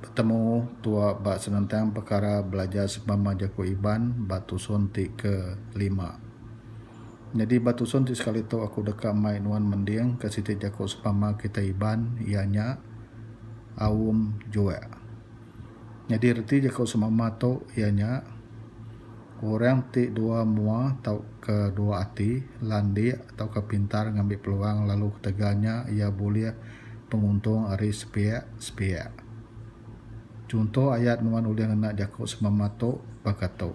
Betemu tua ba senentang pekara belajar sebama jaku Iban ba tusun ti ke lima. Nyadi ba tusun ti sekali tu aku deka mai nuan mending ka siti jaku sebama kitai Iban iya nya aum juek. Nyadi reti jaku sebama tu iya nya orang ti dua mua tauka dua ati, landik tauka pintar ngambi peluang lalu ketegal nya iya bulih penguntung ari sepiak-sepiak. Chunto ayat nuan ulih ngena jaku semama tu baka tu,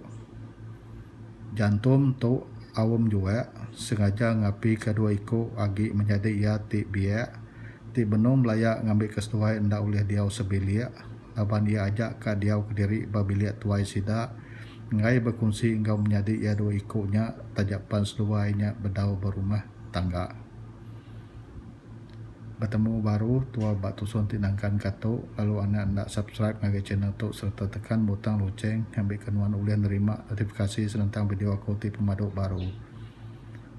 Jantum tu aum jua sengaja ngapika dua iku agi menyadi iya ti biak ti benung belaya ngambika seduai enda ulih diau sebilik laban iya aja ka diau kediri ba bilik tuai sida enggai bekunsi enggau menyadi iya dua iku nya taja pan seduai nya bedau berumah tangga. Betemu baru tua ba tusun ti nangkan ka tu lalu anak enda subscribe ngagai channel tu sereta tekan butang lucheng ngambika nuan ulih nerima notifikasi senentang video aku ti pemadu baru.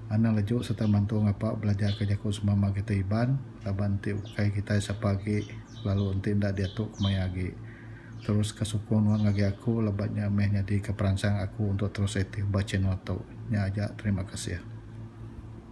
Anang leju sereta mantu ngapa belajar ka jaku semama kita Iban laban enti ukai kitai sapa agi lalu enti enda diatu kemaya agi. Terus ka sukung nuan ngagai aku laban nya meh nyadi ka peransang aku untuk terus aktif ba channel tu. Nya aja terima kasih.